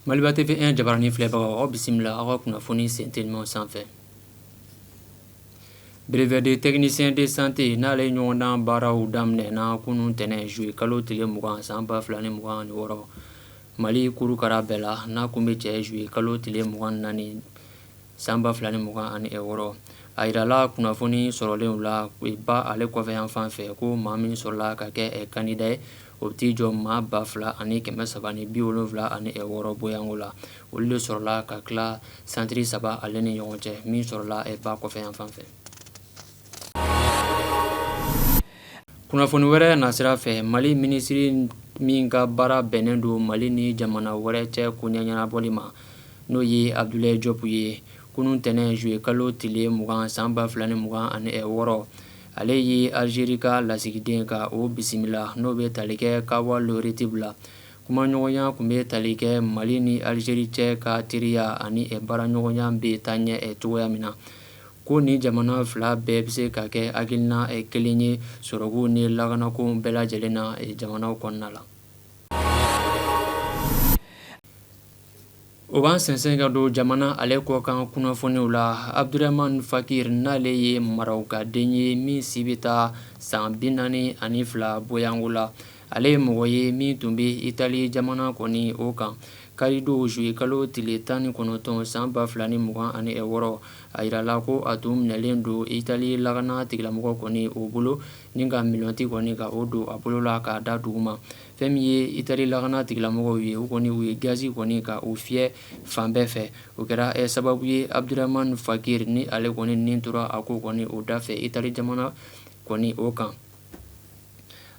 Maliba TV un jabaranin filɛbagaw aw bisimila aw ka kunnafoni sen telimanw sanfɛ brevet de technicien de santé n'ale ɲɔgɔndan baaraw daminɛna kunun tɛnɛn juillet kalo tile mugan san ba fila ni mugan ni wɔɔrɔ mali kurukara bɛɛ la n'a kun bɛ cɛ juillet kalo tile mugan ni naani san ba fila ni mugan ani wɔɔrɔ a jirala kunnafoni sɔrɔlenw la ba ale kɔfɛ yan fan fɛ ko maa min sɔrɔla ka kɛ candidat ye o bɛ t'i jɔ maa ba fila ani kɛmɛ saba ni bi wolonwula ani wɔɔrɔ bɔyanko la olu de sɔrɔla ka tila santiri saba ale ni ɲɔgɔn cɛ min sɔrɔla ba kɔfɛ yan fan fɛ Kunnafoni wɛrɛ nasira fɛ mali minisiri min ka baara bɛnnen don mali ni jamana wɛrɛ cɛ koɲɛ ɲɛnabɔli ma n'o ye Abdoulaye Diop ye kunun tɛnɛn juillet kalo tile mugan san ba fila ni mugan ani wɔɔrɔ ale ye alizeri ka lasigiden ka o bisimila n'o bɛ tali kɛ Kamal Retieb la kumaɲɔgɔnya kun bɛ tali kɛ mali ni alizeri cɛ ka teriya ani baaraɲɔgɔnya bɛ taa ɲɛ cogoya min na ko ni jamana fila bɛɛ bɛ se ka kɛ hakilina kelen ye sɔrɔko ni lakanako bɛɛ lajɛlen na jamana kɔnɔna la o b'an sen ka don jamana ale kɔkan kunnafoniw la Abdourahmane Fakir n'ale ye Marɔkuden ye min si bɛ taa san bi naani ani fila bɔyanko la ale ye mɔgɔ ye min tun bɛ Itali jamana kɔni o kan karidon juillet kalo tile tan ni kɔnɔntɔn san ba fila ni mugan ani wɔɔrɔ A jirala ko a tun minɛlen don Itali lakana tigilamɔgɔ kɔni o bolo ni ka menottes kɔni ka o don a bolo la k'a da duguma fɛn min ye Itali lakana tigilamɔgɔw ye u kɔni u ye gazi kɔni ka o fiyɛ fan bɛɛ fɛ o kɛra sababu ye Abdourahmane Fakir ni ale kɔni nin tora a ko kɔni o dafɛ Itali jamana kɔni o kan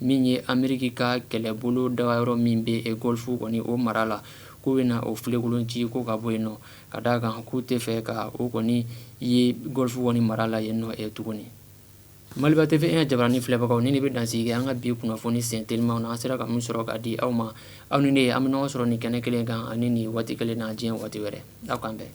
min ye Ameriki ka kɛlɛbolo dagayɔrɔ min bɛ Gɔlfu kɔni o mara la, k'u bɛna o filekolon ci ko ka bɔ yen nɔ, ka d'a kan k'u tɛ fɛ ka o kɔni ye Gɔlfu kɔni mara la yen nɔ tuguni. Maliba TV 1 jabaranin filɛbagaw, nin de bɛ dansigi kɛ an ka bi kunnafoni sen telimanw na, an sera ka min sɔrɔ k'a di aw ma, aw ni ne, an bɛ ɲɔgɔn sɔrɔ nin kɛnɛ kelen kan ani nin waati kelen na diɲɛ waati wɛrɛ. Aw k'an bɛn.